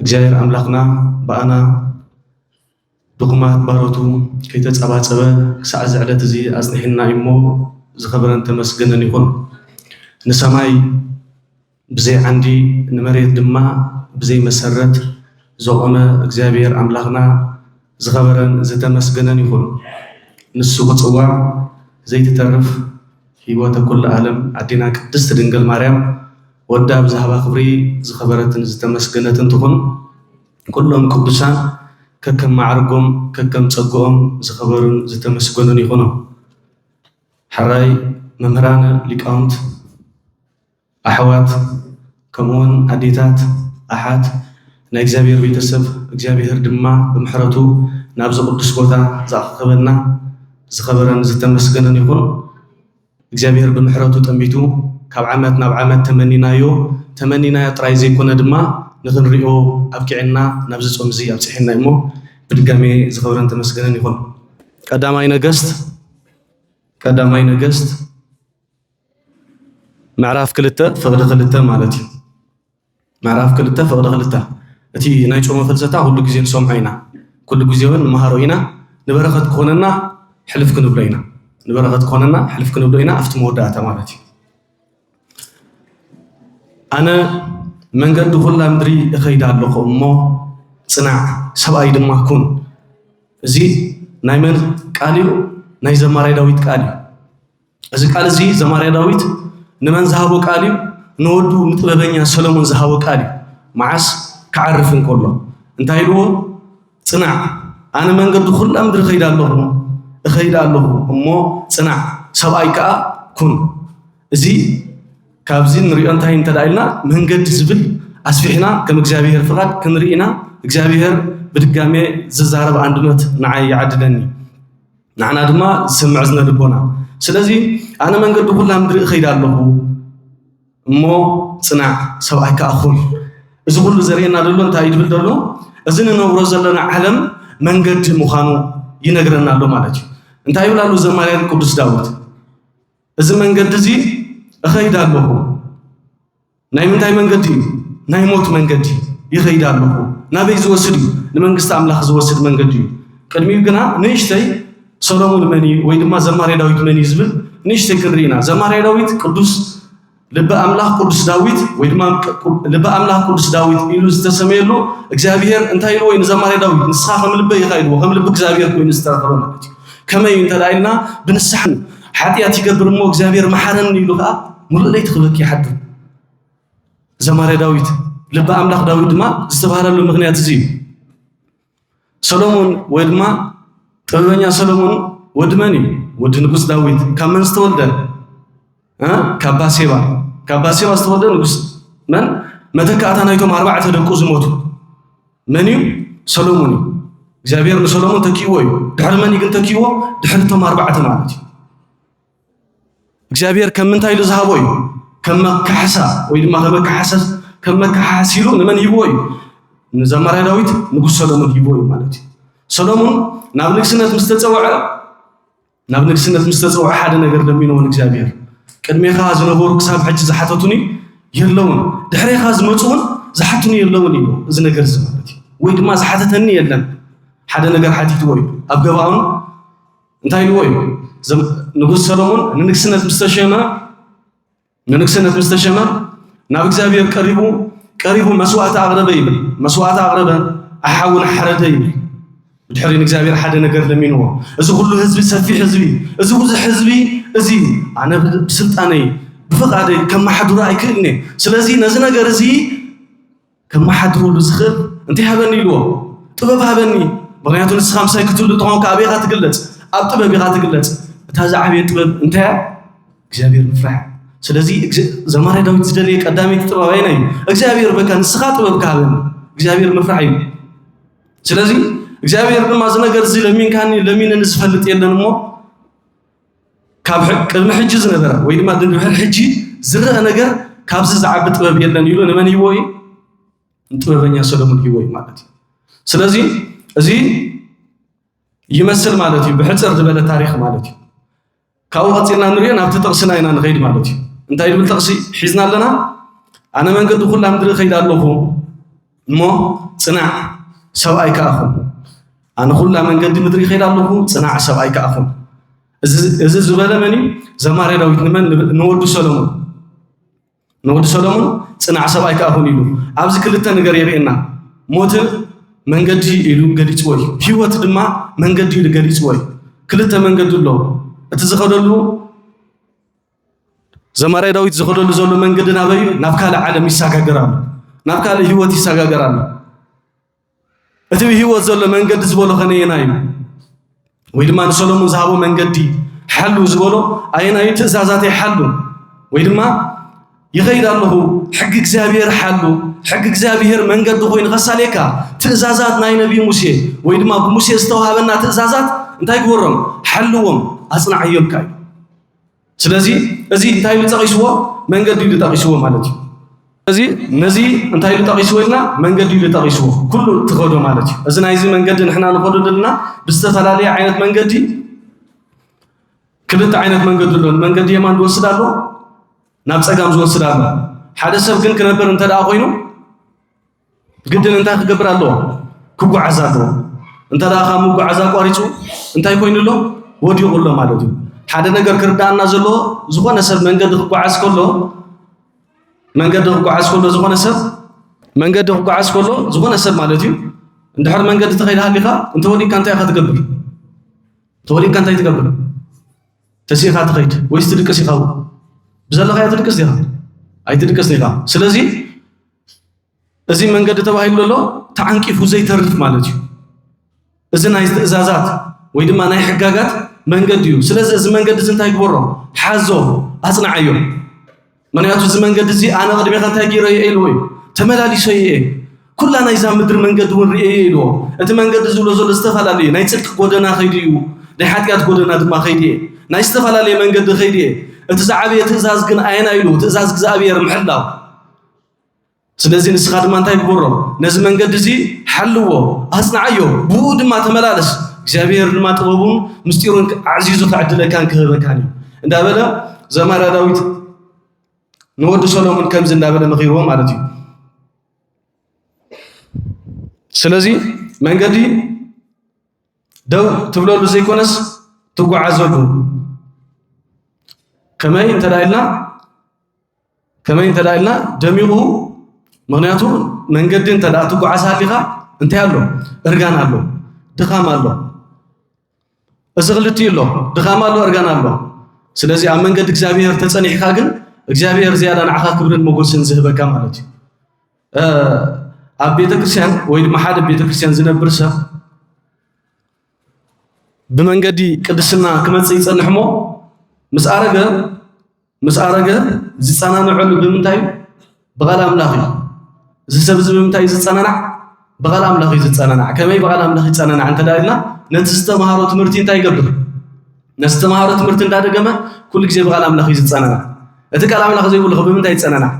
እግዚኣብሔር ኣምላኽና ብኣና ድኹማት ባሮቱ ከይተጸባጸበ ክሳዕ እዚ ዕለት እዚ ኣጽኒሕና እዩ እሞ ዝኸበረን ተመስገነን ይኹን። ንሰማይ ብዘይ ዓንዲ ንመሬት ድማ ብዘይ መሰረት ዘቖመ እግዚኣብሔር ኣምላኽና ዝኸበረን ዝተመስገነን ይኹን ንሱ ክጽዋዕ ዘይትተርፍ ሂወተ ኩሉ ኣለም ኣዴና ቅድስት ድንግል ማርያም ወዳ ብዝሃባ ክብሪ ዝኸበረትን ዝተመስገነትን ትኹን ኩሎም ቅዱሳን ከከም ማዕርጎም ከከም ጸግኦም ዝኸበሩን ዝተመስገኑን ይኹኑ ሐራይ መምህራነ ሊቃውንት ኣሕዋት ከምኡውን ኣዴታት ኣሓት ናይ እግዚኣብሔር ቤተሰብ እግዚኣብሔር ድማ ብምሕረቱ ናብዚ ቅዱስ ቦታ ዝኣኸኸበና ዝኸበረን ዝተመስገነን ይኹን እግዚኣብሔር ብምሕረቱ ጠሚቱ ካብ ዓመት ናብ ዓመት ተመኒናዮ ተመኒናዮ ጥራይ ዘይኮነ ድማ ንኽንሪኦ ኣብቂዕና ናብዚ ጾም እዚ ኣብጽሐና እሞ ብድጋሜ ዝኸበረን ተመስገነን ይኹን ቀዳማይ ነገስት ቀዳማይ ነገስት ምዕራፍ ክልተ ፍቕዲ ክልተ ማለት እዩ። ምዕራፍ ክልተ ፍቕዲ ክልተ እቲ ናይ ጮመ ፍልሰታ ኩሉ ግዜ ንሰምዖ ኢና፣ ኩሉ ግዜ እውን ንመሃሮ ኢና፣ ንበረኸት ክኾነና ሕልፍ ክንብሎ ኢና ንበረኸት ክኾነና ሕልፍ ክንብሎ ኢና ኣብቲ መወዳእታ ማለት እዩ። ኣነ መንገዲ ኩላ ምድሪ እኸይድ ኣለኹ እሞ ጽናዕ ሰብኣይ ድማ ኩን። እዚ ናይ መን ቃል እዩ? ናይ ዘማራይ ዳዊት ቃል እዩ። እዚ ቃል እዚ ዘማርያ ዳዊት ንመን ዝሃቦ ቃል እዩ? ንወዱ ንጥበበኛ ሰሎሞን ዝሃቦ ቃል እዩ። መዓስ? ክዓርፍ እንከሎ እንታይ ኢልዎ? ጽናዕ ኣነ መንገዲ ኩላ ምድሪ እኸይድ ኣለኹ እኸይድ ኣለኹ እሞ ጽናዕ ሰብኣይ ከዓ ኩን። እዚ ካብዚ ንሪኦ እንታይ እንተ ኢልና መንገዲ ዝብል ኣስፊሕና ከም እግዚኣብሔር ፍቓድ ክንርኢና እግዚኣብሔር ብድጋሜ ዝዛረብ ኣንድበት ንዓይ ይዓድለኒ። ንዓና ድማ ዝሰምዕ ዝነ ልቦና ስለዚ ኣነ መንገዲ ኩላ ምድሪ እኸይድ ኣለኹ እሞ ፅናዕ ሰብኣይ ከዓ ኹን እዚ ኩሉ ዘርእየና ዘሎ እንታይ ይብል ዘሎ እዚ ንነብሮ ዘለና ዓለም መንገዲ ምዃኑ ይነግረና ኣሎ ማለት እዩ እንታይ ይብል ኣሎ ዘማርያን ቅዱስ ዳዊት እዚ መንገዲ እዚ እኸይድ ኣለኹ ናይ ምንታይ መንገዲ እዩ? ናይ ሞት መንገዲ ይኸይድ ኣለኹ። ናበይ ዝወስድ እዩ? ንመንግስቲ ኣምላኽ ዝወስድ መንገዲ እዩ። ቅድሚኡ ግና ንእሽተይ ሰሎሞን መን እዩ ወይ ድማ ዘማሪ ዳዊት መን እዩ ዝብል ንእሽተይ ክንርኢ ኢና። ዘማሪ ዳዊት ቅዱስ ልበ ኣምላኽ ቅዱስ ዳዊት ወይ ድማ ልበ ኣምላኽ ቅዱስ ዳዊት ኢሉ ዝተሰመየሉ እግዚኣብሔር እንታይ ኢልዎ ንዘማሪ ዳዊት ንስኻ ከም ልበ ኢኻ ኢልዎ ከም ልቢ እግዚኣብሔር ኮይኑ ዝተረኸበ ማለት እዩ። ከመይ እንተ ኢልና ብንስሓ ሓጢኣት ይገብር እሞ እግዚኣብሔር መሓረኒ ኢሉ ከዓ ሙሉእ ለይቲ ክበኪ ይሓድር ዘማሪ ዳዊት ልቢ ኣምላኽ ዳዊት ድማ ዝተባህለሉ ምክንያት እዚ እዩ ሰሎሞን ወይ ድማ ጥበበኛ ሰሎሞን ወዲ መን እዩ ወዲ ንጉስ ዳዊት ካብ መን ዝተወልደ ካብ ባሴባ ካብ ባሴባ ዝተወልደ ንጉስ መን መተካእታ ናይቶም ኣርባዕተ ደቁ ዝሞቱ መን እዩ? ሰሎሞን እዩ። እግዚኣብሔር ንሰሎሞን ተኪእዎ እዩ። ድሕሪ መን እዩ ግን ተኪእዎ? ድሕሪ እቶም ኣርባዕተ ማለት እዩ። እግዚኣብሔር ከም ምንታይ ኢሉ ዝሃቦ እዩ? ከም መካሕሳ ወይ ድማ ከመካሓሰስ ከም መካሓስ ኢሉ ንመን ሂብዎ እዩ? ንዘማርያ ዳዊት ንጉስ ሰሎሞን ሂብዎ እዩ ማለት እዩ። ሰሎሞን ናብ ንግስነት ምስ ተፀውዐ ናብ ንግስነት ምስ ተጸውዐ ሓደ ነገር ለሚንዎ ንእግዚኣብሔር ቅድሜኻ ዝነበሩ ክሳብ ሕጂ ዝሓተቱኒ የለውን ድሕሬኻ ዝመጹ እውን ዝሓቱኒ የለውን እዩ እዚ ነገር እዚ ማለት እዩ ወይ ድማ ዝሓተተኒ የለን ሓደ ነገር ሓቲትዎ እዩ ኣብ ገባኦን እንታይ ኢልዎ እዩ ንጉስ ሰሎሞን ንንግስነት ምስ ተሸመ ንንግስነት ምስ ተሸመ ናብ እግዚኣብሔር ቀሪቡ ቀሪቡ መስዋእቲ ኣቕረበ ይብል። መስዋእቲ ኣቕረበ ኣሓውን ሓረደ ይብል። ብድሕሪ ንእግዚኣብሔር ሓደ ነገር ለሚንዎ። እዚ ኩሉ ህዝቢ ሰፊሕ ህዝቢ እዚ ብዙሕ ህዝቢ እዚ ኣነ ብስልጣነይ ብፍቓደይ ከመሓድሮ ኣይክእልኔ ስለዚ ነዚ ነገር እዚ ከመሓድረሉ ዝኽእል እንታይ ሃበኒ ኢልዎ? ጥበብ ሃበኒ። ምኽንያቱ ንስኻ ምሳይ ክትህሉ እንተኾንካ ኣበይ ኢኻ ትግለጽ? ኣብ ጥበብ ኢኻ ትግለጽ። እታ ዝዓበየ ጥበብ እንታይ እያ? እግዚኣብሔር ምፍራሕ እያ። ስለዚ እግዚ- ዘማሪ ዳዊት ዝደለየ ቀዳመይቲ ጥበብ ኣየናይ እዩ? እግዚኣብሔር በቃ ንስኻ ጥበብ ክሃበኒ እግዚኣብሔር ምፍራሕ እዩ። ስለዚ እግዚኣብሔር ድማ እዚ ነገር እዚ ለሚንካኒ ለሚነኒ ዝፈልጥ የለን እሞ ካብ ቅድሚ ሕጂ ዝነበረ ወይ ድማ ድንድሕሪ ሕጂ ዝረአ ነገር ካብዚ ዝዓቢ ጥበብ የለን ኢሉ ንመን ሂቦ እዩ? ንጥበበኛ ሰለሙን ሂቦ እዩ ማለት እዩ። ስለዚ እዚ ይመስል ማለት እዩ ብሕፅር ዝበለ ታሪክ ማለት እዩ። ካብኡ ቀፂልና ንሪኦ ናብቲ ጥቕስና ኢና ንኸይድ ማለት እዩ። እንታይ ዝብል ጥቕሲ ሒዝና ኣለና? ኣነ መንገዲ ኩላ ምድሪ እኸይድ ኣለኹ እሞ ጽናዕ ሰብኣይ ከኣ ኩን። ኣነ ኩላ መንገዲ ምድሪ ይኸይድ ኣለኹ፣ ጽናዕ ሰብኣይ ከኣ ኩን። እዚ ዝበለ መን እዩ? ዘማርያ ዳዊት ንመን? ንወዱ ሰሎሞን። ንወዱ ሰሎሞን ጽናዕ ሰብኣይ ከኣ ኩን ኢሉ ኣብዚ ክልተ ነገር የርእየና። ሞት መንገዲ ኢሉ ገሊጽዎ እዩ፣ ህይወት ድማ መንገዲ ኢሉ ገሊጽዎ እዩ። ክልተ መንገዲ ኣሎ። እቲ ዝኸደሉ ዘማራይ ዳዊት ዝኸደሉ ዘሎ መንገዲ ናበይ እዩ? ናብ ካልእ ዓለም ይሰጋገር ኣሎ፣ ናብ ካልእ ህይወት ይሰጋገር ኣሎ። እቲ ብህይወት ዘሎ መንገዲ ዝበሎ ከነየና እዩ? ወይ ድማ ንሰሎሞን ዝሃቦ መንገዲ ሓሉ ዝበሎ ኣየና እዩ? ትእዛዛተይ ሓሉ ወይ ድማ ይኸይድ ኣለኹ ሕጊ እግዚኣብሔር ሓሉ ሕጊ እግዚኣብሔር መንገዲ ኮይኑ ከሳሌካ ትእዛዛት ናይ ነቢይ ሙሴ ወይ ድማ ብሙሴ ዝተዋሃበና ትእዛዛት እንታይ ግበሮም ሓልዎም ኣጽናዕዮምካ እዩ ስለዚ እዚ እንታይ ኢሉ ጠቒስዎ? መንገዲ ኢሉ ጠቒስዎ ማለት እዩ። እዚ ነዚ እንታይ ኢሉ ጠቒስዎ ኢልና መንገዲ ኢሉ ጠቒስዎ ኩሉ ትኸዶ ማለት እዩ። እዚ ናይዚ መንገዲ ንሕና ንኸዶ ዘለና ብዝተፈላለየ ዓይነት መንገዲ ክልተ ዓይነት መንገዲ ኣሎ። መንገዲ የማን ዝወስድ ኣሎ፣ ናብ ጸጋም ዝወስድ ኣሎ። ሓደ ሰብ ግን ክነብር እንተ ኮይኑ ግድን እንታይ ክገብር ኣለዎ? ክጓዓዝ ኣለዎ። እንተ ደኣ ካብ ምጉዓዝ ኣቋሪጹ እንታይ ኮይኑ ኣሎ? ወዲቑ ኣሎ ማለት እዩ። ሓደ ነገር ክርዳኣና ዘለዎ ዝኾነ ሰብ መንገዲ ክጓዓዝ ከሎ መንገዲ ክጓዓዝ ከሎ ዝኾነ ሰብ መንገዲ ክጓዓዝ ከሎ ዝኾነ ሰብ ማለት እዩ እንድሕር መንገዲ ተኸይድ ሃሊኻ እንተወዲቕካ እንታይ ኢኻ ትገብር? ተወዲቕካ እንታይ ትገብር? ተሲእኻ ትኸይድ ወይስ ትድቅስ ኢኻ? ብዘለኻዮ ትድቅስ ዲኻ? ኣይትድቅስን ኢኻ። ስለዚ እዚ መንገዲ ተባሂሉ ዘሎ ተዓንቂፉ ዘይተርፍ ማለት እዩ። እዚ ናይ ትእዛዛት ወይ ድማ ናይ ሕጋጋት መንገዲ እዩ። ስለዚ እዚ መንገዲ እዚ እንታይ ግበሮ ሓዞ ኣጽንዓዮ። ምክንያቱ እዚ መንገዲ እዚ ኣነ ቅድሜኻ እንታይ ገይረ እየ ኢልዎ እዩ ተመላሊሶ እየ ኩላ ናይዛ ምድሪ መንገዲ እውን ርእየ እየ ኢልዎ። እቲ መንገዲ ዝብሎ ዘሎ ዝተፈላለዩ ናይ ፅድቂ ጎደና ከይዱ እዩ፣ ናይ ሓጢኣት ጎደና ድማ ከይዱ እየ፣ ናይ ዝተፈላለየ መንገዲ ከይዱ እየ። እቲ ዝዓበየ ትእዛዝ ግን ኣየና ኢሉ ትእዛዝ እግዚኣብሔር ምሕላው ስለዚ ንስኻ ድማ እንታይ ግበሮ ነዚ መንገዲ እዚ ሓልዎ ኣጽንዓዮ ብኡ ድማ ተመላለስ እግዚኣብሔር ድማ ጥበቡን ምስጢሩን ኣዕዚዙ ክዕድለካን ክህበካን እዩ እንዳበለ ዘማራ ዳዊት ንወዲ ሰሎሞን ከምዚ እንዳበለ መኺርዎ ማለት እዩ ስለዚ መንገዲ ደው ትብለሉ ዘይኮነስ ትጓዓዘሉ ከመይ እንተ ኢልና ከመይ እንተ ኢልና ደሚቑ ምክንያቱ መንገዲ እንተ ትጓዓዝ ሃሊኻ እንታይ ኣሎ እርጋን ኣሎ ድኻም ኣሎ እዚ ክልቲኡ ኣሎ ድኻም ኣሎ እርጋን ኣሎ ስለዚ ኣብ መንገዲ እግዚኣብሔር ተፀኒሕካ ግን እግዚኣብሔር ዝያዳ ንዓኻ ክብርን መጎስን ዝህበካ ማለት እዩ ኣብ ቤተክርስትያን ወይ ድማ ሓደ ቤተክርስትያን ዝነብር ሰብ ብመንገዲ ቅድስና ክመፅእ ይፀንሕ እሞ ምስ ኣረገ ምስ ኣረገ ዝጸናንዐሉ ብምንታይ እዩ? ብቓል ኣምላኽ እዩ። እዚ ሰብ እዚ ብምንታይ ዝጸናናዕ? ብቓል ኣምላኽ እዩ ዝጸናናዕ። ከመይ ብቓል ኣምላኽ ይጸናናዕ እንተ ኢልና ነቲ ዝተምሃሮ ትምህርቲ እንታይ ይገብር? ነቲ ዝተምሃሮ ትምህርቲ እንዳደገመ ኩሉ ግዜ ብቓል ኣምላኽ እዩ ዝጸናናዕ። እቲ ቃል ኣምላኽ ዘይብሉ ብምንታይ ይጸናናዕ?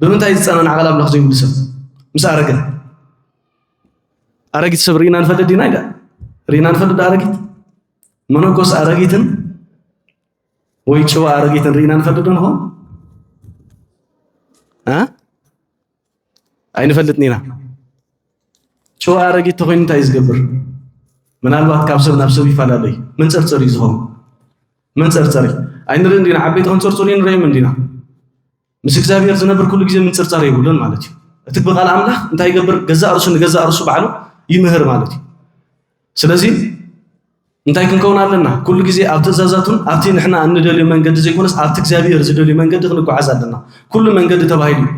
ብምንታይ ዝጸናናዕ ቃል ኣምላኽ ዘይብሉ ሰብ ምስ ኣረገ ኣረጊት ሰብ ርኢና ንፈልጥ ዲና ኢዳ ርኢና ንፈልጥ ኣረጊት መነኮስ ኣረጊትን ወይ ጭዋ ኣረጊትን ርኢና ንፈልጥ ዶ ንኾን ኣይንፈልጥን ኢና ጭዋ ኣረጊት ተኮይኑ እንታይ እዩ ዝገብር ምናልባት ካብ ሰብ ናብ ሰብ ይፈላለ እዩ መንፀርፀር እዩ ዝኸውን መንፀርፀር እዩ ኣይንርኢ እንዲና ዓበይቲ ከንፀርፅሩ ንርእዮም እንዲና ምስ እግዚኣብሔር ዝነብር ኩሉ ግዜ ምንጽርጻር የብሉን ማለት እዩ። እቲ ብቃል ኣምላኽ እንታይ ይገብር? ገዛእ ርእሱ ንገዛእ ርእሱ ባዕሉ ይምህር ማለት እዩ። ስለዚ እንታይ ክንከውን ኣለና? ኩሉ ግዜ ኣብ ትእዛዛቱን ኣብቲ ንሕና እንደልዮ መንገዲ ዘይኮነስ ኣብቲ እግዚኣብሔር ዝደልዩ መንገዲ ክንጓዓዝ ኣለና። ኩሉ መንገዲ ተባሂሉ እዩ።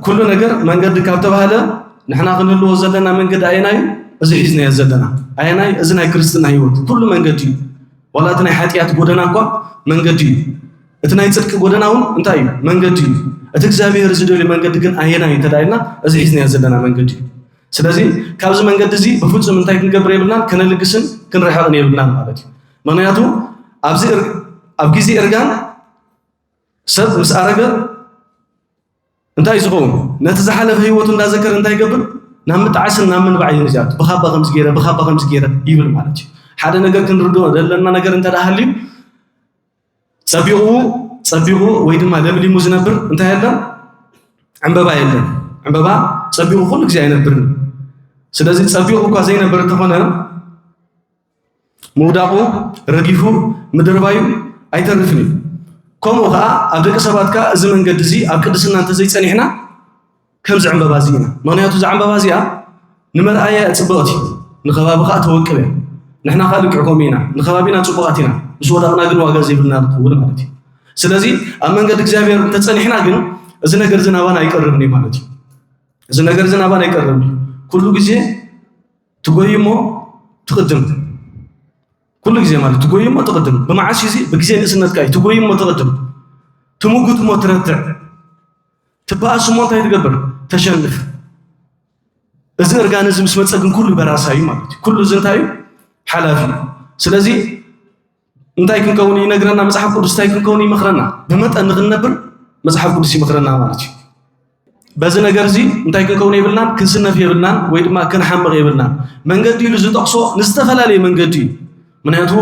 ኩሉ ነገር መንገዲ ካብ ተባህለ ንሕና ክንህልዎ ዘለና መንገዲ ኣየናይ እዩ? እዚ ሒዝናዮ ዘለና ኣየናይ? እዚ ናይ ክርስትና ህይወት ኩሉ መንገዲ እዩ። ዋላ እቲ ናይ ሓጢኣት ጎደና እኳ መንገዲ እዩ። እቲ ናይ ጽድቂ ጎደና እውን እንታይ እዩ? መንገዲ እዩ። እቲ እግዚኣብሔር ዝደልዩ መንገዲ ግን ኣየና እዩ እንተዳኢልና እዚ ሒዝናዮ ዘለና መንገዲ እዩ። ስለዚ ካብዚ መንገዲ እዚ ብፍጹም እንታይ ክንገብር የብልናን ከነልግስን ክንርሕቕን የብልናን ማለት እዩ። ምክንያቱ ኣብዚ ኣብ ግዜ እርጋን ሰብ ምስ ኣረገ እንታይ ዝኸውን ነቲ ዝሓለፈ ህይወቱ እንዳዘከረ እንታይ ይገብር ናብ ምጣዕስን ናብ ምንባዕ እዩ ዝኣቱ ብካባ ከምዚ ገይረ ብካባ ከምዚ ገይረ ይብል ማለት እዩ። ሓደ ነገር ክንርድኦ ዘለና ነገር እንተደኣ ሃልዩ ጸቢቑ ጸቢቑ ወይ ድማ ለምሊሙ ዝነብር እንታይ ኣሎ? ዕምበባ የለን። ዕምበባ ጸቢቑ ኩሉ ግዜ ኣይነብርን። ስለዚ ጸቢቑ እኳ ዘይነብር እንተኾነ ምውዳቑ ረጊፉ ምድርባዩ ኣይተርፍን እዩ። ከምኡ ከዓ ኣብ ደቂ ሰባት ከዓ እዚ መንገዲ እዚ ኣብ ቅድስና እንተዘይጸኒዕና ከምዚ ዕምበባ እዚ ኢና ምክንያቱ እዛ ዕምበባ እዚኣ ንመርኣያ ፅብቕቲ ንከባቢ ከዓ ተወቅብ እያ ንሕና ከዓ ልክዕ ከምኡ ኢና ንከባቢና ፅቡቃት ኢና ምስ ወዳቕና ግን ዋጋ ዘይብልና ንኸውን ማለት እዩ ስለዚ ኣብ መንገዲ እግዚኣብሔር እንተፀኒሕና ግን እዚ ነገር እዚ ናባና ኣይቀርብን እዩ ማለት እዩ እዚ ነገር እዚ ናባና ኣይቀርብን እዩ ኩሉ ግዜ ትጎይ እሞ ትቕድም ኩሉ ግዜ ማለት ትጎይ እሞ ትቕድም ብመዓስ እዚ ብግዜ ንእስነትካ እዩ ትጎይ እሞ ትቕድም ትምጉት እሞ ትረትዕ ትበኣስ እሞ እንታይ ትገብር ተሸንፍ እዚ እርጋን እዚ ምስ መፀ ግን ኩሉ በራሳ እዩ ማለት እዩ ኩሉ እዚ እንታይ እዩ ሓላፊ እዩ ስለዚ እንታይ ክንከውን ይነግረና መፅሓፍ ቅዱስ እንታይ ክንከውን ይመክረና ብመጠን ንክንነብር መፅሓፍ ቅዱስ ይመክረና ማለት እዩ በዚ ነገር እዚ እንታይ ክንከውን የብልናን ክንስነፍ የብልናን ወይ ድማ ክንሓምቕ የብልናን መንገዲ ኢሉ ዝጠቕሶ ንዝተፈላለየ መንገዲ እዩ ምክንያቱ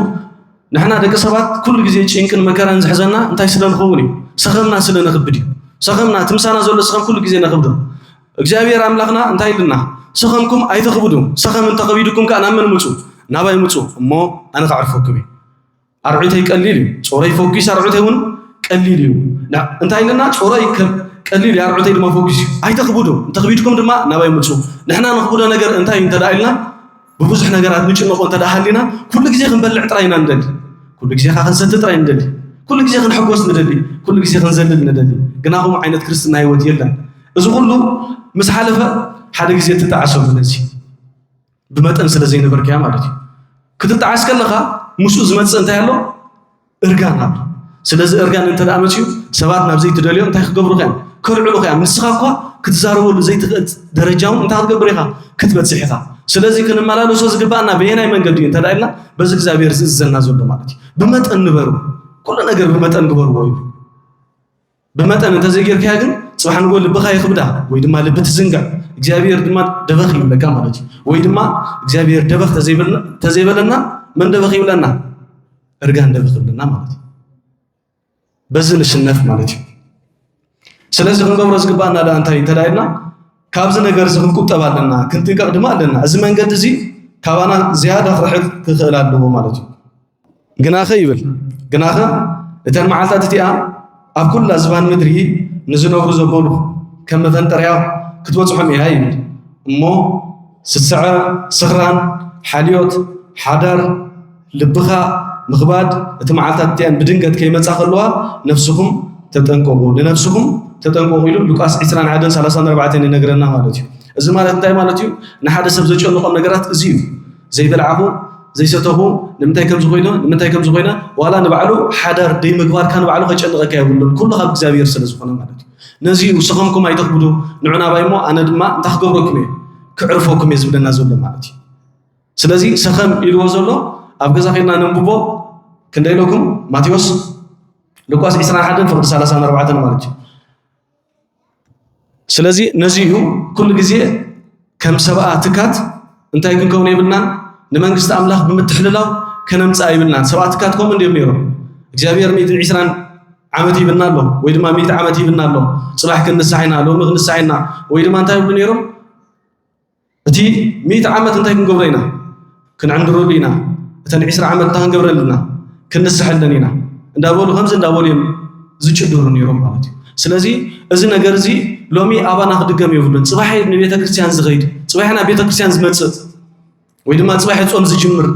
ንሕና ደቂ ሰባት ኩሉ ግዜ ጭንቅን መከራን ዝሕዘና እንታይ ስለ ንኸውን እዩ? ሰኸምና ስለ ነኽብድ እዩ። ሰኸምና እቲ ምሳና ዘሎ ሰኸም ኩሉ ግዜ ነኽብዶ። እግዚኣብሔር ኣምላኽና እንታይ ኢሉና? ሰኸምኩም ኣይተኽብዱ፣ ሰኸም እንተኸቢድኩም ከዓ ናብ መን ምፁ? ናባይ ምፁ እሞ ኣነ ከዕርፈኩም እዩ። ኣርዑተይ ቀሊል እዩ፣ ጾረይ ፈኲስ፣ ኣርዑተይ እውን ቀሊል እዩ። እንታይ ኢሉና? ጾረይ ቀሊል እዩ፣ ኣርዑተይ ድማ ፈኲስ እዩ። ኣይተኽብዱ፣ እንተኽቢድኩም ድማ ናባይ ምፁ። ንሕና ነኽብዶ ነገር እንታይ እዩ እንተደኣ ኢልና ብብዙሕ ነገራት ንጭነቆ እንተ ሃሊና ኩሉ ግዜ ክንበልዕ ጥራይ ኢና ንደሊ ኩሉ ግዜ ካ ክንሰቲ ጥራይ ንደሊ ኩሉ ግዜ ክንሕጎስ ንደሊ ኩሉ ግዜ ክንዘልል ንደሊ ግና ከምኡ ዓይነት ክርስትና ህይወት የለን እዚ ኩሉ ምስ ሓለፈ ሓደ ግዜ ትጣዕሰሉ ነዚ ብመጠን ስለ ዘይነበርካያ ማለት እዩ ክትጣዓስ ከለኻ ምስኡ ዝመፅእ እንታይ ኣሎ እርጋን ኣሎ። ስለዚ እርጋን እንተ ደኣ መጺኡ ሰባት ናብ ዘይትደልዮ እንታይ ክገብሩኻ እዮም? ከልዕሉኻ እዮም። ንስኻ እኳ ክትዛረበሉ ዘይትኽእል ደረጃ እውን እንታይ ክትገብር ኢኻ? ክትበጽሕ ኢኻ። ስለዚ ክንመላለሶ ዝግብኣና በየናይ መንገዲ እዩ እንተ ደኣ ኢልና በዚ እግዚኣብሔር ዝእዝዘና ዘሎ ማለት እዩ። ብመጠን ንበሩ፣ ኩሉ ነገር ብመጠን ግበርዎ ይብሉ። ብመጠን እንተዘይጌርካያ ግን ጽባሕ ንጎ ልብኻ ይኽብዳ ወይ ድማ ልቢ ትዝንግዕ እግዚኣብሔር ድማ ደበኽ ይብለካ ማለት እዩ ወይ ድማ እግዚኣብሔር ደበኽ ተዘይበለና መን ደበኽ ይብለና እርጋን ደበኽ ይብለና ማለት እዩ በዚ ንሽነፍ ማለት እዩ ስለዚ ክንገብሮ ዝግባእና ዳ እንታይ እንተዳይልና ካብዚ ነገር እዚ ክንቁጠብ ኣለና ክንጥንቀቕ ድማ ኣለና እዚ መንገዲ እዚ ካባና ዝያዳ ክርሕቅ ክኽእል ኣለዎ ማለት እዩ ግናኸ ይብል ግናኸ እተን መዓልታት እቲኣ ኣብ ኩላ ዝባን ምድሪ ንዝነብሩ ዘበሉ ከም መፈንጠርያ ክትበፅሖም እያ ይብል እሞ ስስዐ ስኽራን ሓልዮት ሓዳር ልብኻ ምኽባድ እቲ መዓልታት እቲኣን ብድንገት ከይመፃ ከለዋ ነፍስኹም ተጠንቀቑ ንነፍስኹም ተጠንቀቑ ኢሉ ሉቃስ 20 1 34 ይነግረና ማለት እዩ እዚ ማለት እንታይ ማለት እዩ ንሓደ ሰብ ዘጨንቖም ነገራት እዚ እዩ ዘይበልዓኹ ዘይሰተኹ ንምንታይ ከምዚ ኮይነ ንምንታይ ከምዚ ኮይነ ዋላ ንባዕሉ ሓዳር ደይምግባርካ ንባዕሉ ከጨንቐካ የብሉን ኩሉ ካብ እግዚኣብሔር ስለ ዝኾነ ማለት እዩ ነዚ እዩ ሰኸምኩም ኣይተኽብዱ ንዑናባይ እሞ ኣነ ድማ እንታይ ክገብረኩም እየ ክዕርፈኩም እየ ዝብለና ዘሎ ማለት እዩ ስለዚ ሰኸም ኢልዎ ዘሎ ኣብ ገዛ ከድና ነንብቦ ክንደይ ኢለኩም ማቴዎስ ሉቃስ 21 ፍቕዲ 34 ማለት እዩ ስለዚ ነዚ እዩ ኩሉ ግዜ ከም ሰብኣ ትካት እንታይ ክንከውን የብልናን ንመንግስቲ ኣምላኽ ብምትሕልላው ከነምጽኣ ይብልናን። ሰብኣ ትካት ከምኡ እንዲዮም ነይሮም። እግዚኣብሔር ሚእትን ዒስራን ዓመት ይብልና ኣሎ ወይ ድማ ሚእቲ ዓመት ይብልና ኣሎ። ጽባሕ ክንሳሕ ኢና፣ ሎሚ ክንሳሕ ኢና ወይ ድማ እንታይ ይብሉ ነይሮም? እቲ ሚእቲ ዓመት እንታይ ክንገብሮ ኢና? ክንዕንድረሉ ኢና፣ እተን ዕስራ ዓመት እንታይ ክንገብረን ኣለና? ክንስሐለን ኢና እንዳበሉ ከምዚ እንዳበሉ እዮም ዝጭድሩ ነይሮም ማለት እዩ። ስለዚ እዚ ነገር እዚ ሎሚ ኣባና ክድገም የብሉን። ፅባሕ ንቤተ ክርስቲያን ዝኸይድ ፅባሕ ናብ ቤተ ክርስቲያን ዝመፅእ ወይ ድማ ፅባሕ ፆም ዝጅምር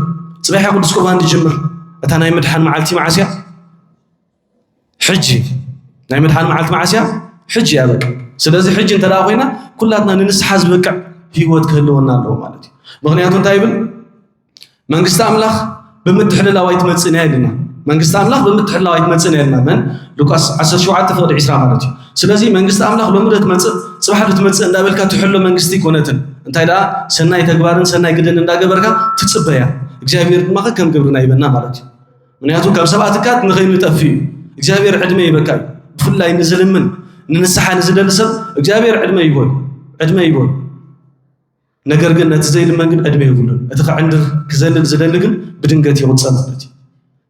ፅባሕ ቅዱስ ቁርባን ዝጅምር እታ ናይ ምድሓን መዓልቲ መዓስ እያ? ሕጂ ናይ መድሓን መዓልቲ መዓስ እያ? ሕጂ እያ በቃ። ስለዚ ሕጂ እንተ ኮይና ኩላትና ንንስሓ ዝበቅዕ ህይወት ክህልወና ኣለዎ ማለት እዩ። ምክንያቱ እንታይ ይብል መንግስቲ ኣምላኽ ብምትሕልላው ኣይትመጽእን እያ ኢልና መንግስቲ ኣምላኽ ብምትሕልላው ኣይትመጽእን እያ ኢልና መን ሉቃስ 17 ፍቕዲ 20 ማለት እዩ። ስለዚ መንግስቲ ኣምላኽ ሎሚ ዶ ትመጽእ ጽባሕ ዶ ትመጽእ እንዳበልካ ትሕሎ መንግስቲ ኮነትን እንታይ ደኣ ሰናይ ተግባርን ሰናይ ግደን እንዳገበርካ ትጽበያ እግዚኣብሔር ድማ ከም ግብርና ይበና ማለት እዩ። ምክንያቱ ካብ ሰብኣ ትካት ንኸይንጠፍ እዩ እግዚኣብሔር ዕድመ ይበካ ብፍላይ ንዝልምን ንንስሓ ንዝደሊ ሰብ እግዚኣብሔር ዕድመ ይበሉ ዕድመ ይበሉ ነገር ግን ነቲ ዘይልመን ግን ዕድመ የብሉን እቲ ክዕንድር ክዘልል ዝደሊ ግን ብድንገት ይቕፀ ማለት እዩ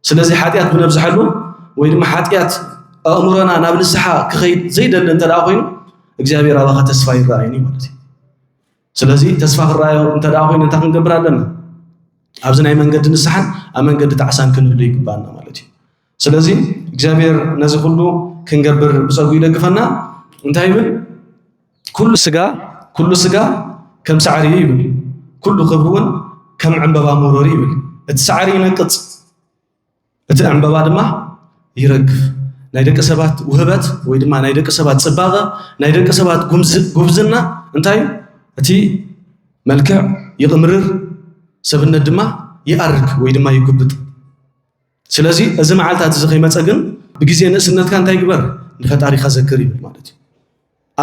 ስለዚ ሓጢኣት ብነብዝሓሉ ወይ ድማ ሓጢኣት ኣእምሮና ናብ ንስሓ ክኸይድ ዘይደሊ እንተ ኮይኑ እግዚኣብሔር ኣባኻ ተስፋ ይረኣይኒ ማለት እዩ ስለዚ ተስፋ ክረኣዮ እንተ ደኣ ኮይኑ እንታይ ክንገብር ኣለና? ኣብዚ ናይ መንገዲ ንስሓን ኣብ መንገዲ ጣዕሳን ክንህሉ ይግባና ማለት እዩ። ስለዚ እግዚኣብሔር ነዚ ኩሉ ክንገብር ብጸጉ ይደግፈና። እንታይ ይብል? ኩሉ ስጋ ኩሉ ስጋ ከም ሳዕሪ እዩ ይብል። ኩሉ ክብሪ እውን ከም ዕምበባ መውረሪ ይብል። እቲ ሳዕሪ ይነቅጽ፣ እቲ ዕምበባ ድማ ይረግፍ። ናይ ደቂ ሰባት ውህበት ወይ ድማ ናይ ደቂ ሰባት ፅባቐ፣ ናይ ደቂ ሰባት ጉብዝና እንታይ እዩ? እቲ መልክዕ ይቕምርር፣ ሰብነት ድማ ይኣርግ ወይ ድማ ይጉብጥ። ስለዚ እዚ መዓልታት እዚ ከይመፀ ግን ብግዜ ንእስነትካ እንታይ ግበር ንፈጣሪኻ ዘክር ይብል ማለት እዩ።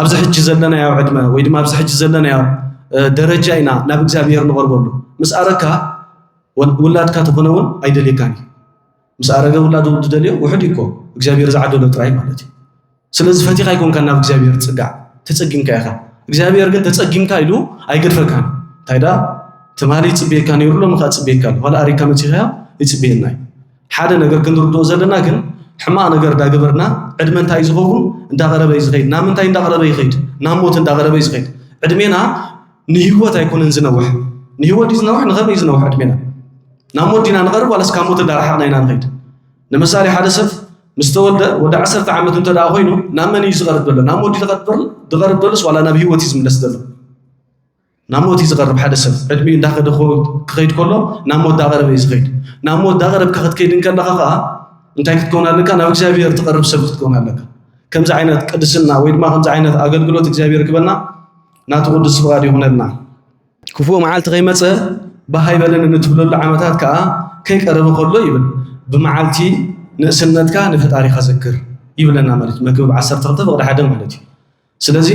ኣብዚ ሕጂ ዘለናዮ ዕድመ ወይ ድማ ኣብዚ ሕጂ ዘለናዮ ደረጃ ኢና ናብ እግዚኣብሔር ንቐርበሉ ምስ ኣረካ ውላድካ ተኾነ እውን ኣይደልየካን እዩ ምስ ኣረገ ውላዱ ዝደልዮ ውሕድ እኮ እግዚኣብሔር ዝዓደሎ ጥራይ ማለት እዩ ስለዚ ፈቲኻ ኣይኮንካ ናብ እግዚኣብሔር ፅጋዕ ተፀጊምካ ኢኻ እግዚኣብሔር ግን ተፀጊምካ ኢሉ ኣይገድፈካን እንታይ ዳ ትማሊ ይፅበየካ ነይሩ ሎም ከዓ ፅበየካ ኣሎ ኋላ ኣሪካ መፂኸያ ይፅበየና እዩ ሓደ ነገር ክንርድኦ ዘለና ግን ሕማቅ ነገር ዳገበርና ዕድመ እንታይ እዩ ዝኸውን እንዳቀረበ እዩ ዝኸይድ ናብ ምንታይ እንዳቀረበ ይኸይድ ናብ ሞት እንዳቀረበ እዩ ዝኸይድ ዕድሜና ንሂወት ኣይኮነን ዝነውሕ ንሂወት ድዩ ዝነውሕ ንኸመይ እዩ ዝነውሕ ዕድሜና ናብ ሞት ዲና ንቀርብ ዋላስ ካብ ሞት እንዳረሓቅና ኢና ንኸይድ ንምሳሌ ሓደ ሰብ ምስ ተወልደ ወዲ ዓሰርተ ዓመት እንተ ደኣ ኮይኑ ናብ መን እዩ ዝቐርብ ዘሎ ናብ ሞት ድቐርብ ደሎስ ዋላ ናብ ሂወት እዩ ዝምለስ ዘሎ ናብ ሞት እዩ ዝቐርብ ሓደ ሰብ ዕድሚኡ እንዳኸደ ክኸይድ ከሎ ናብ ሞት ዳቐረበ እዩ ዝኸይድ ናብ ሞት ዳቐረብካ ክትከይድ እንከለኻ ከዓ እንታይ ክትከውን ኣለካ ናብ እግዚኣብሔር ትቐርብ ሰብ ክትከውን ኣለካ ከምዚ ዓይነት ቅድስና ወይ ድማ ከምዚ ዓይነት ኣገልግሎት እግዚኣብሔር ክበና ናቱ ቅዱስ ፍቓድ ይኹነልና ክፉእ መዓልቲ ከይመፀ ብሃይ በለን እንትብለሉ ዓመታት ከዓ ከይቀረበ ከሎ ይብል ብመዓልቲ ንእስነትካ ንፈጣሪኻ ዘክር ይብለና ማለት እዩ መክብብ 12 ፍቕዲ ሓደ ማለት እዩ ስለዚ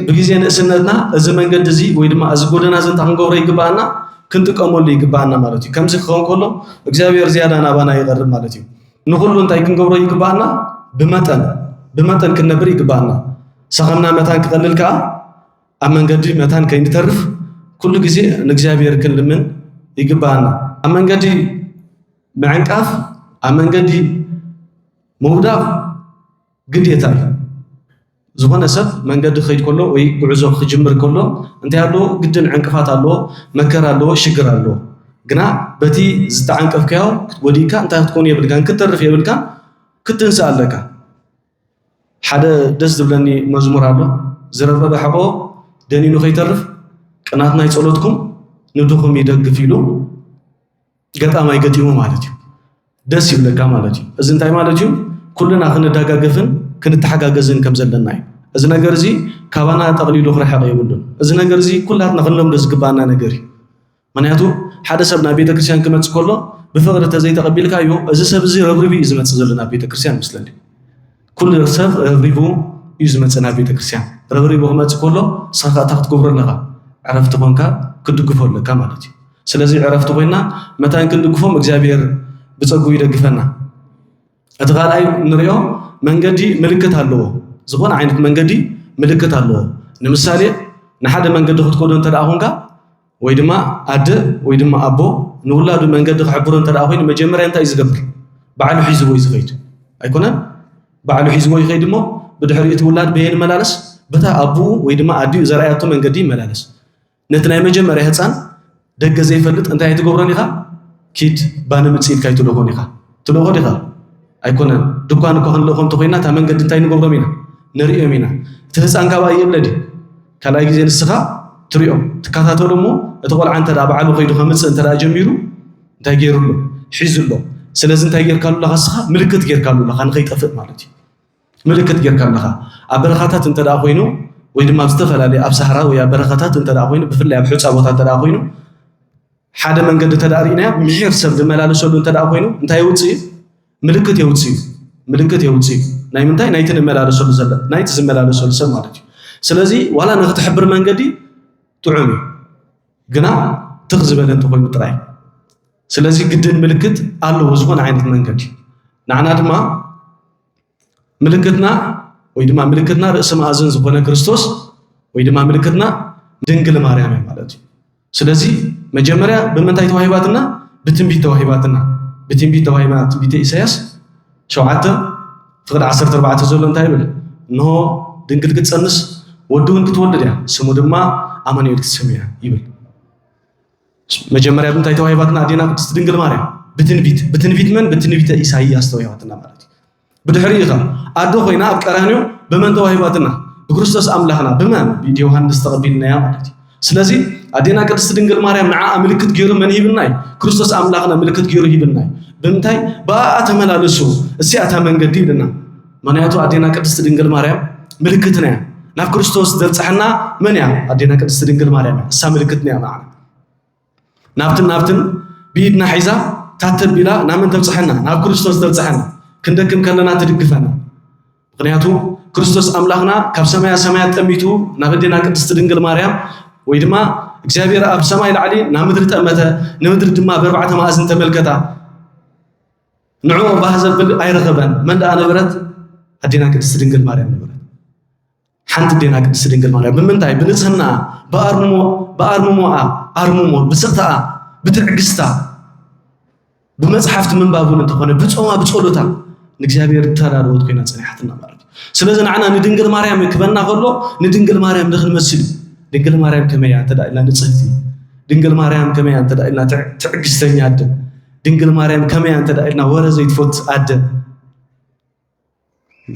ብግዜ ንእስነትና እዚ መንገዲ እዚ ወይ ድማ እዚ ጎደና እዚ እንታይ ክንገብሮ ይግባኣና? ክንጥቀመሉ ይግባኣና ማለት እዩ። ከምዚ ክኸውን ከሎ እግዚኣብሔር ዝያዳ ናባና ይቐርብ ማለት እዩ። ንኹሉ እንታይ ክንገብሮ ይግባኣና? ብመጠን ብመጠን ክንነብር ይግባኣና። ሰኸምና መታን ክቐልል ከዓ ኣብ መንገዲ መታን ከይንተርፍ ኩሉ ግዜ ንእግዚኣብሔር ክንልምን ይግባኣና። ኣብ መንገዲ ምዕንቃፍ፣ ኣብ መንገዲ ምውዳቕ ግዴታ እዩ። ዝኾነ ሰብ መንገዲ ክኸይድ ከሎ ወይ ጉዕዞ ክጅምር ከሎ እንታይ ኣለዎ? ግድን ዕንቅፋት ኣለዎ፣ መከራ ኣለዎ፣ ሽግር ኣለዎ። ግና በቲ ዝተዓንቀፍካዮ ክትጎዲእካ እንታይ ክትኮኑ የብልካን፣ ክትተርፍ የብልካን፣ ክትንስእ ኣለካ። ሓደ ደስ ዝብለኒ መዝሙር ኣሎ ዝረበበ ሕቆ ደኒኑ ከይተርፍ ቅናት ናይ ጸሎትኩም ንድኹም ይደግፍ ኢሉ ገጣማይ ገጢሙ ማለት እዩ ደስ ይብለካ ማለት እዩ እዚ እንታይ ማለት እዩ ኩልና ክንደጋገፍን ክንተሓጋገዝን ከም ዘለና እዩ እዚ ነገር እዚ ካባና ጠቕሊሉ ክርሕቕ የብሉን እዚ ነገር እዚ ኩላትና ክንለምዶ ዝግባኣና ነገር እዩ ምክንያቱ ሓደ ሰብ ናብ ቤተክርስትያን ክመፅእ ከሎ ብፍቕሪ ተዘይተቐቢልካዮ እዚ ሰብ እዚ ረብሪቢ እዩ ዝመፅእ ዘሎ ናብ ቤተክርስትያን ምስለኒ ኩሉ ሰብ ረብሪቡ እዩ ዝመፅእ ናብ ቤተክርስትያን ረብሪቡ ክመፅእ ከሎ ንስኻ ከዓ እንታይ ክትገብሮ ኣለካ ዕረፍቲ ኮንካ ክትድግፎ ኣለካ ማለት እዩ ስለዚ ዕረፍቲ ኮይና መታን ክንድግፎም እግዚኣብሔር ብፀጉ ይደግፈና እቲ ካልኣይ ንሪኦ መንገዲ ምልክት ኣለዎ ዝኾነ ዓይነት መንገዲ ምልክት ኣለዎ ንምሳሌ ንሓደ መንገዲ ክትከዶ እንተደኣ ኮንካ ወይ ድማ ኣደ ወይ ድማ ኣቦ ንውላዱ መንገዲ ክሕብሮ እንተ ኮይኑ መጀመርያ እንታይ እዩ ዝገብር? ባዕሉ ሒዝዎ እዩ ዝኸይድ ኣይኮነን? ባዕሉ ሒዝዎ ይኸይድ እሞ ብድሕሪ እቲ ውላድ በየ ንመላለስ በታ ኣቡኡ ወይ ድማ ኣዲኡ ዘርኣያቶ መንገዲ ይመላለስ። ነቲ ናይ መጀመርያ ህፃን ደገ ዘይፈልጥ እንታይ ኣይትገብሮን ኢኻ? ኪድ ባኒ ምፅ ኢልካ ኣይትልእኾን ኢኻ። ትልእኾ ዲኻ? ኣይኮነን። ድኳን እኳ ክንልእኾ እንተኾይና እታ መንገዲ እንታይ ንገብሮም ኢና? ንርእዮም ኢና። እቲ ህፃን ካብኣ ይእለ ድዩ? ካልኣይ ግዜ ንስኻ ትሪኦ ትከታተሎ እሞ እቲ ቆልዓ እንተ ባዕሉ ከይዱ ከምፅእ እንተ ጀሚሩ እንታይ ገይሩ ኣሎ ሒዙ ኣሎ ስለዚ እንታይ ጌርካሉ ኣለኻ ንስኻ ምልክት ጌርካሉ ኣለኻ ንኸይጠፍእ ማለት እዩ ምልክት ጌርካ ኣለኻ ኣብ በረኻታት እንተ ኮይኑ ወይ ድማ ኣብ ዝተፈላለየ ኣብ ሳህራ ወይ ኣብ በረኻታት እንተ ኮይኑ ብፍላይ ኣብ ሕፃ ቦታ እንተ ኮይኑ ሓደ መንገዲ እንተ ርኢናያ ምሒር ሰብ ዝመላለሰሉ እንተ ኮይኑ እንታይ ውፅእ እዩ ምልክት የውጽዩ ምልክት የውጽዩ ናይ ምንታይ ናይቲ ንመላለሰሉ ዘለ ናይቲ ዝመላለሰሉ ሰብ ማለት እዩ ስለዚ ዋላ ንክትሕብር መንገዲ ጥዑም እዩ ግና ትኽ ዝበለ እንተኮይኑ ጥራይ ስለዚ ግድን ምልክት ኣለዎ ዝኾነ ዓይነት መንገዲ ንዓና ድማ ምልክትና ወይ ድማ ምልክትና ርእሲ መኣዝን ዝኾነ ክርስቶስ ወይ ድማ ምልክትና ድንግል ማርያም እዩ ማለት እዩ ስለዚ መጀመርያ ብምንታይ ተዋሂባትና? ብትንቢት ተዋሂባትና። ብትንቢት ተዋሂባ ትንቢተ ኢሳያስ ሸውዓተ ፍቕዲ ዓሰርተ ኣርባዕተ ዘሎ እንታይ ይብል? እንሆ ድንግል ክትጸንስ ወዲ እውን ክትወልድ እያ፣ ስሙ ድማ ኣማኑኤል ክትስም እያ ይብል። መጀመርያ ብምንታይ ተዋሂባትና ኣዴና ቅድስቲ ድንግል ማርያም? ብትንቢት። ብትንቢት መን? ብትንቢተ ኢሳይያስ ተዋሂባትና ማለት እዩ። ብድሕሪኡ ከ ኣዶ ኮይና ኣብ ቀራንዮ ብመን ተዋሂባትና? ብክርስቶስ ኣምላኽና ብመን? ብኢድ ዮሃንስ ተቐቢልናያ ማለት እዩ። ስለዚ ኣዴና ቅድስቲ ድንግል ማርያም ንዓኣ ምልክት ገይሩ መን ሂብና እዩ? ክርስቶስ ኣምላኽና ምልክት ገይሩ ሂብና እዩ። ብምንታይ? ብኣኣ ተመላለሱ እሲኣ እታ መንገዲ ይብለና። ምክንያቱ ኣዴና ቅድስቲ ድንግል ማርያም ምልክትና እያ። ናብ ክርስቶስ ዘብጽሐና መን እያ? ኣዴና ቅድስቲ ድንግል ማርያም እያ። እሳ ምልክትና እያ ንዓና። ናብትን ናብትን ብኢድና ሒዛ ታተቢላ ናመን ተብጽሐና ናብ ክርስቶስ ተብጽሐና ክንደክም ከለና ትድግፈና ምክንያቱ ክርስቶስ ኣምላኽና ካብ ሰማያ ሰማያት ጠሚቱ ናብ እዴና ቅድስቲ ድንግል ማርያም ወይ ድማ እግዚኣብሔር ኣብ ሰማይ ላዕሊ ናብ ምድሪ ጠመተ ንምድሪ ድማ በርባዕተ ማእዝን ተመልከታ ንዑ ባህ ዘብል ኣይረኸበን መን ደኣ ነበረት ኣዴና ቅድስቲ ድንግል ማርያም ነበረት ሓንቲ ዴና ቅድስቲ ድንግል ማርያም ብምንታይ ብንጽህናኣ ብኣርሞ ብኣርምሞኣ ኣርምሞ ብስቕታኣ ብትዕግስታ ብመጽሓፍቲ ምንባብ እውን እንተኾነ ብጾማ ብጸሎታ ንእግዚኣብሔር ተዳለወት ኮይና ጸኒሓትና ማለት እዩ ስለዚ ንዓና ንድንግል ማርያም ክበና ከሎ ንድንግል ማርያም ንክንመስል ድንግል ማርያም ከመይ እያ እንተዳ ኢልና ንጽህቲ ድንግል ማርያም ከመይ እያ እንተዳ ኢልና ትዕግስተኛ ኣደ ድንግል ማርያም ከመይ እያ እንተዳ ኢልና ወረ ዘይትፈት ኣደ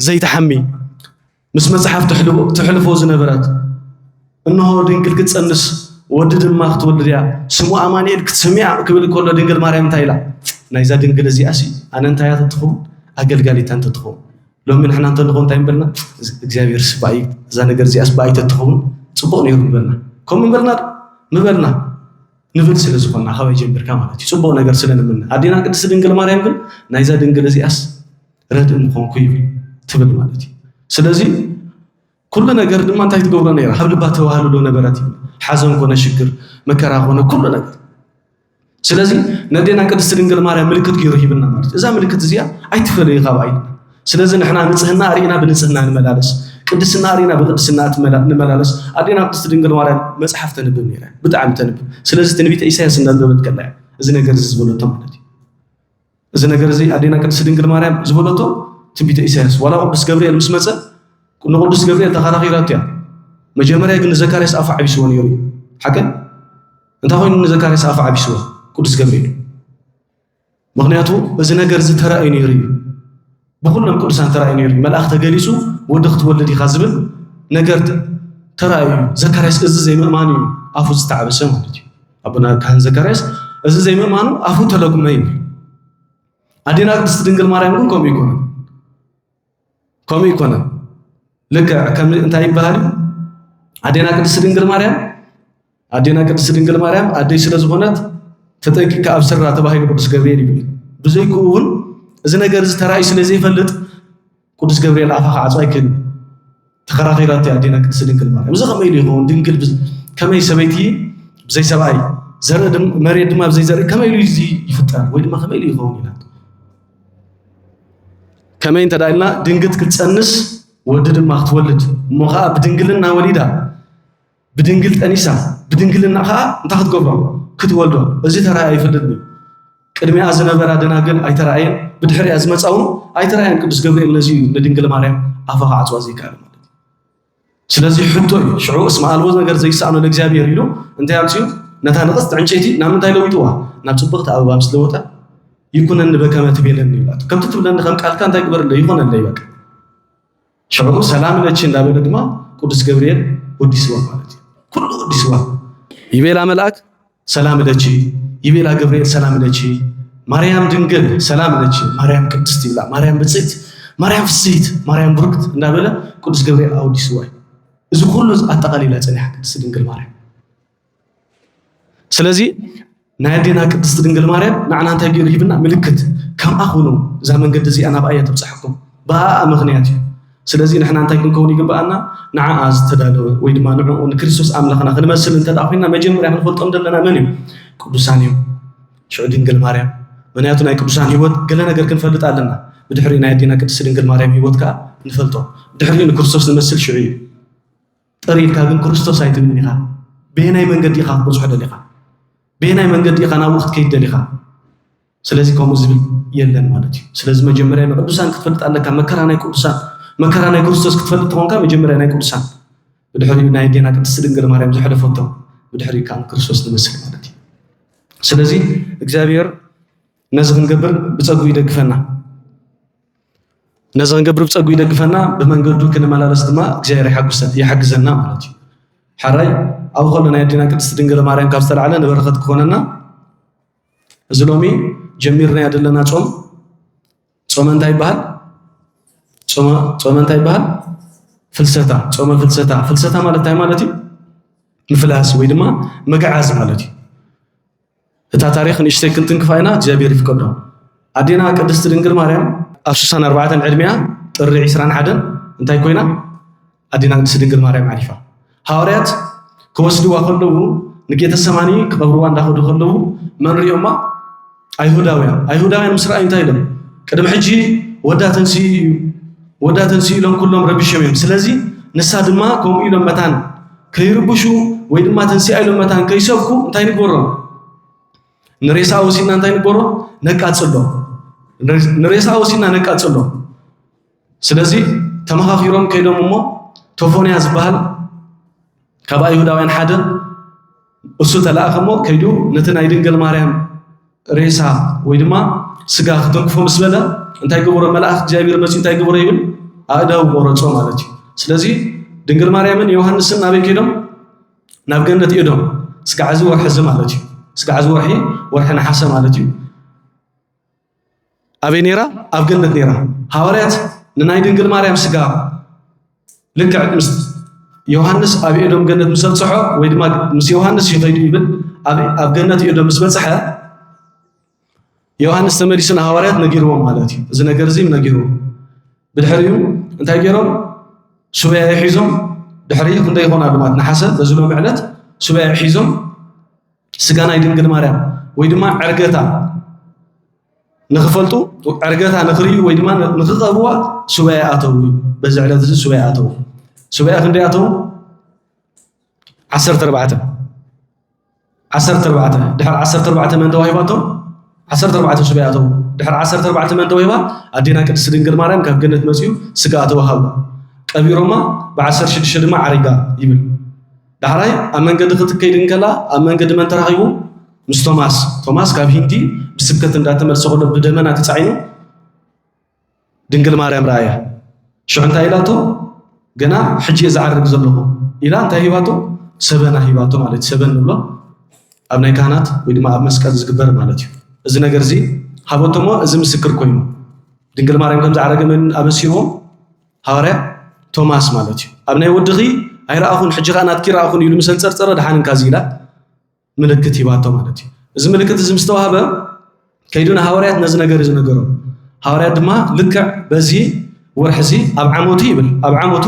ዘይትሓሚ ምስ መጽሓፍ ተሕልፎ ዝነበረት እነሆ ድንግል ክትጸንስ ወዲ ድማ ክትወልድ እያ ስሙ ኣማንኤል ክትስምያ ክብል ከሎ ድንግል ማርያም እንታይ ኢላ ናይዛ ድንግል እዚኣ ሲ ኣነ እንታይ እያ ተትኸውን ኣገልጋሊታ እንተትኸውን ሎሚ ንሕና እንተልኾ እንታይ ንበልና እግዚኣብሔር ስባይ እዛ ነገር እዚኣ ስባይ ተትኸውን ፅቡቕ ነይሩ ንበልና ከምኡ ንበልና ምበልና ንብል ስለ ዝኾና ካበይ ጀምርካ ማለት እዩ ፅቡቕ ነገር ስለ ንምነ ኣዴና ቅድስቲ ድንግል ማርያም ግን ናይዛ ድንግል እዚኣስ ረድእ ምኾንኩ እዩ ትብል ማለት እዩ ስለዚ ኩሉ ነገር ድማ እንታይ ትገብሮ ነይራ ካብ ልባ ተዋህልሎ ነበረት እዩ ሓዘን ኮነ ሽግር መከራ ኮነ ኩሉ ነገር ስለዚ ነዴና ቅድስቲ ድንግል ማርያም ምልክት ገይሩ ሂብና ማለት እዛ ምልክት እዚኣ ኣይትፈለዩ ካብ ኣይልና ስለዚ ንሕና ንጽህና ኣርኢና ብንጽህና ንመላለስ፣ ቅድስና ኣርኢና ብቅድስና ንመላለስ። ኣዴና ቅድስቲ ድንግል ማርያም መጽሓፍ ተንብብ ነይራ እያ፣ ብጣዕሚ ተንብብ። ስለዚ ትንቢተ ኢሳያስ እናንበበት ከላ እያ እዚ ነገር እዚ ዝበለቶ ማለት እዩ። እዚ ነገር እዚ ኣዴና ቅድስቲ ድንግል ማርያም ዝበለቶ ትንቢተ ኢሳያስ ዋላ ቅዱስ ገብርኤል ምስ መፀ ንቅዱስ ገብርኤል ተኸራኺራቶ እያ። መጀመርያ ግን ንዘካርያስ ኣፉ ዓቢስዎ ነይሩ እዩ ሓቀ እንታይ ኮይኑ ንዘካርያስ ኣፉ ዓቢስዎ ቅዱስ ገብርኤል ምክንያቱ እዚ ነገር እዚ ተራእዩ ነይሩ እዩ ብኩሎም ቅዱሳን ተራእዩ ነይሩ መልኣኽ ተገሊጹ ወዲ ክትወልድ ኢኻ ዝብል ነገር ተራእዩ እዩ ዘካርያስ እዚ ዘይምእማኑ እዩ ኣፉ ዝተዓበሰ ማለት እዩ ኣቦና ካህን ዘካርያስ እዚ ዘይምእማኑ ኣፉ ተለጉመ ይብል ኣዴና ቅድስቲ ድንግል ማርያም ግን ከምኡ ይኮነ ከምኡ ኣይኮነን። ልክዕ ከም እንታይ ይበሃል እዩ ኣዴና ቅድስቲ ድንግል ማርያም ኣዴና ቅድስቲ ድንግል ማርያም ኣደይ ስለ ዝኾነት ተጠንቂቅካ ኣብ ስራ ተባሂሉ ቅዱስ ገብርኤል ይብል ብዘይክኡ እውን እዚ ነገር እዚ ተራእዩ ስለ ዘይፈልጥ ቅዱስ ገብርኤል ኣፋ ክዓፁ ኣይክእልን ተኸራኺራቶ እያ ኣዴና ቅድስቲ ድንግል ማርያም። እዚ ከመይ ኢሉ ይኸውን? ድንግል ከመይ ሰበይቲ ብዘይ ሰብኣይ ዘርኢ መሬት ድማ ብዘይ ዘርኢ ከመይ ኢሉ እዚ ይፍጠር ወይ ድማ ከመይ ኢሉ ይኸውን ኢላ ከመይ እንተ ኢልና ድንግት ክትፀንስ ወዲ ድማ ክትወልድ እሞ ከዓ ብድንግልና ወሊዳ ብድንግል ጠኒሳ ብድንግልና ከዓ እንታይ ክትገብሮ ክትወልዶ እዚ ተራእያ ይፈልጥ እዩ ቅድሚኣ ዝነበራ ደናግል ኣይተረኣየን ብድሕሪያ ዝመፃ እውን ኣይተረኣየን ቅዱስ ገብርኤል ነዚ እዩ ንድንግል ማርያም ኣፋ ክዓፅዋ ዘይከኣል ማለት እዩ ስለዚ ሕቶ እዩ ሽዑ እስመ ኣልቦ ነገር ዘይሰኣኖ ለእግዚኣብሔር ኢሉ እንታይ ኣምፅኡ ነታ ንቕፅቲ ዕንጨይቲ ናብ ምንታይ ለዊጥዋ ናብ ፅብቕቲ ኣበባ ምስ ለወጠ ይኩነኒ በከመ ትቤለኒ ይብላቶ ከምቲ ትብለኒ ከም ቃልካ እንታይ ግበርለ ይኮነለይ በቃ ሽዑ ሰላም ለኪ እንዳበለ ድማ ቅዱስ ገብርኤል ወዲስዋ ማለት እዩ ኩሉ ወዲስዋ ይቤላ መልኣክ ሰላም ለኪ ይቤላ ገብርኤል ሰላም ለኪ ማርያም ድንግል ሰላም ለኪ ማርያም ቅድስት ይብላ ማርያም ብፅዕት ማርያም ፍስሕት ማርያም ብሩክት እንዳበለ ቅዱስ ገብርኤል ኣወዲስዋ እዩ እዚ ኩሉ ኣጠቃሊላ ፀኒሓ ቅድስት ድንግል ማርያም ስለዚ ናይ ኣዴና ቅድስቲ ድንግል ማርያም ንዓና እንታይ ገይሩ ሂብና? ምልክት ከምኣ ኩኑ እዛ መንገዲ እዚኣ ናብኣ እያ ተብፅሐኩም ብኣኣ ምኽንያት እዩ። ስለዚ ንሕና እንታይ ክንከውን ይግብኣና? ንዓኣ ዝተዳለወ ወይ ድማ ንዕኡ ንክርስቶስ ኣምላኽና ክንመስል እንተ ኮይና መጀመርያ ክንፈልጦም ዘለና መን እዩ? ቅዱሳን እዮም። ሽዑ ድንግል ማርያም ምክንያቱ ናይ ቅዱሳን ህይወት ገለ ነገር ክንፈልጥ ኣለና። ብድሕሪ ናይ ኣዴና ቅድስቲ ድንግል ማርያም ህይወት ከዓ ንፈልጦ። ድሕሪ ንክርስቶስ ንመስል ሽዑ እዩ። ጥር ኢልካ ግን ክርስቶስ ኣይትብልን ኢኻ። በየናይ መንገዲ ኢኻ ክትበጽሖ ደሊኻ? በየናይ መንገዲ ኢኻ ናብኡ ክትከይድ ደሊኻ? ስለዚ ከምኡ ዝብል የለን ማለት እዩ። ስለዚ መጀመርያ ንቅዱሳን ክትፈልጥ ኣለካ። መከራ ናይ ቅዱሳን መከራ ናይ ክርስቶስ ክትፈልጥ ተኾንካ መጀመርያ ናይ ቅዱሳን ብድሕሪ ናይ ዴና ቅድስቲ ድንግል ማርያም ዝሐለፈቶ ብድሕሪ ከዓ ክርስቶስ ንመስል ማለት እዩ። ስለዚ እግዚኣብሔር ነዚ ክንገብር ብፀጉ ይደግፈና። ነዚ ክንገብር ብጸጉ ይደግፈና ብመንገዱ ክንመላለስ ድማ እግዚኣብሔር ይሓግዘና ማለት እዩ ሓራይ ኣብ ከሎ ናይ ኣዴና ቅድስቲ ድንግል ማርያም ካብ ዝተላዕለ ንበረኸት ክኾነና እዚ ሎሚ ጀሚርናዮ ዘለና ጾም ጾመ እንታይ ይበሃል ጾመ እንታይ ይበሃል ፍልሰታ ጾመ ፍልሰታ ፍልሰታ ማለት እንታይ ማለት እዩ ምፍላስ ወይ ድማ ምግዓዝ ማለት እዩ እታ ታሪኽ ንእሽተይ ክንትንክፋ ኢና እግዚኣብሔር ይፍቀዶ። ኣዴና ቅድስቲ ድንግል ማርያም ኣብ ስሳን ኣርባዕተን ዕድሜኣ ጥሪ ዒስራን ሓደን እንታይ ኮይና ኣዴና ቅድስቲ ድንግል ማርያም ዓሪፋ። ሃዋርያት ክወስድዋ ከለዉ ንጌተ ሰማኒ ክቐብርዋ እንዳኸዱ ከለዉ መን ሪኦማ? ኣይሁዳውያን ኣይሁዳውያን ምስ ረኣዩ እንታይ ኢሎም ቅድሚ ሕጂ ወዳ ተንስኡ እዩ ወዳ ተንስኡ ኢሎም ኩሎም ረቢሾም እዮም። ስለዚ ንሳ ድማ ከምኡ ኢሎም መታን ከይርብሹ ወይ ድማ ተንሲኣ ኢሎም መታን ከይሰብኩ እንታይ ንግበሮም? ንሬሳ ወሲድና እንታይ ንግበሮ? ነቃጽሎ። ንሬሳ ወሲድና ነቃጽሎ። ስለዚ ተመኻኺሮም ከይዶም እሞ ቶፎንያ ዝበሃል ካብ ኣይሁዳውያን ሓደ እሱ ተላእከ እሞ ከይዱ ነቲ ናይ ድንገል ማርያም ሬሳ ወይ ድማ ስጋ ክተንክፎ ምስ በለ እንታይ ገበሮ መልኣኽ እግዚኣብሔር መፂ እንታይ ገበሮ ይብል ኣእዳው ቆረፆ ማለት እዩ ስለዚ ድንግል ማርያምን ዮሃንስን ናበይ ከይዶም ናብ ገነት እዶም ስጋዕ እዚ ወርሒ እዚ ማለት እዩ ስጋዕ እዚ ወርሒ ወርሒ ነሓሰ ማለት እዩ ኣበይ ነይራ? ኣብ ገነት ነይራ። ሃዋርያት ንናይ ድንግል ማርያም ስጋ ልክዕ ምስ ዮሃንስ ኣብ ኤዶም ገነት ምስ ኣብጽሖ ወይ ድማ ምስ ዮሃንስ እዩ ከይዱ ይብል ኣብ ገነት ኤዶም ምስ በጽሐ ዮሃንስ ተመሊሱ ንሃዋርያት ነጊርዎም ማለት እዩ። እዚ ነገር እዚ ነጊርዎም ብድሕሪኡ እንታይ ገይሮም ሱበያ ሒዞም ድሕሪ ክንደይ ይኾን ኣሉ ማለት ነሓሰ በዚ ሎሚ ዕለት ሱበያ ሒዞም ስጋ ናይ ድንግል ማርያም ወይ ድማ ዕርገታ ንክፈልጡ ዕርገታ ንክርእዩ ወይ ድማ ንክቐርቡዋ ሱባኤ ኣተው እዩ በዚ ዕለት እዚ ሱባኤ ኣተው ሱባኤ ክንደይ ኣተው ዓሰርተ ኣርባዕተ ዓሰርተ ኣርባዕተ ድሕሪ ዓሰርተ ኣርባዕተ መን ተዋሂባቶም ዓሰርተ ኣርባዕተ ሱባኤ ኣተው ድሕሪ ዓሰርተ ኣርባዕተ መን ተዋሂባ ኣዴና ቅድስቲ ድንግል ማርያም ካብ ገነት መፅኡ ስጋ ተዋሃቡ ቀቢሮማ ብዓሰርተ ሽዱሽተ ድማ ዓሪጋ ይብል ዳሕራይ ኣብ መንገዲ ክትከይድ እንከላ ኣብ መንገዲ መን ተራኺቡ? ምስ ቶማስ። ቶማስ ካብ ሂንዲ ብስብከት እንዳተመልሰ ከሎ ብደመና ተጻዒኑ ድንግል ማርያም ረኣያ። ሽዑ እንታይ ኢላቶ? ገና ሕጂ እየ ዝዓርግ ዘለኹ ኢላ እንታይ ሂባቶ? ሰበና ሂባቶ ማለት ሰበን ንብሎ ኣብ ናይ ካህናት ወይ ድማ ኣብ መስቀል ዝግበር ማለት እዩ እዚ ነገር እዚ ሃበቶሞ እዚ ምስክር ኮይኑ ድንግል ማርያም ከም ዝዓረገ መን ኣበሲርዎ ሃዋርያ ቶማስ ማለት እዩ ኣብ ናይ ወድኺ ኣይረኣኹን ሕጂ ከዓ ናትኪ ረኣኹን ኢሉ ምስ ኣንፀርፀረ ድሓን እንካ ኢላ ምልክት ሂባቶ ማለት እዩ እዚ ምልክት እዚ ምስ ተዋህበ ከይዱ ንሃዋርያት ነዚ ነገር እዩ ዝነገሮም ሃዋርያት ድማ ልክዕ በዚ ወርሒ እዚ ኣብ ዓመቱ ይብል ኣብ ዓመቱ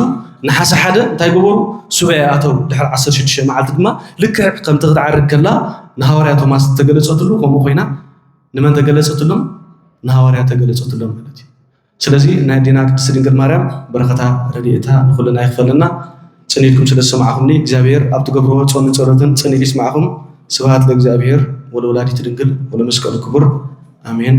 ንሓሰ ሓደ እንታይ ገበሩ ሱባኤ ኣተው ድሕሪ 16 መዓልቲ ድማ ልክዕ ከምቲ ክትዓርግ ከላ ንሃዋርያ ቶማስ ተገለፀትሉ ከምኡ ኮይና ንመን ተገለፀትሎም ንሃዋርያ ተገለፀትሎም ማለት እዩ ስለዚ ናይ ኣዴና ቅድስቲ ድንግል ማርያም በረከታ ረዲኤታ ንኩልና ይክፈለና። ጽን ኢልኩም ስለ ዝሰማዕኩምኒ እግዚኣብሄር ኣብ ትገብርዎ ጾምን ጸሎትን ጽን ኢሉ ይስማዕኩም ስብሃት ለእግዚኣብሄር ወለወላዲቱ ድንግል ወለመስቀሉ ክቡር ኣሜን።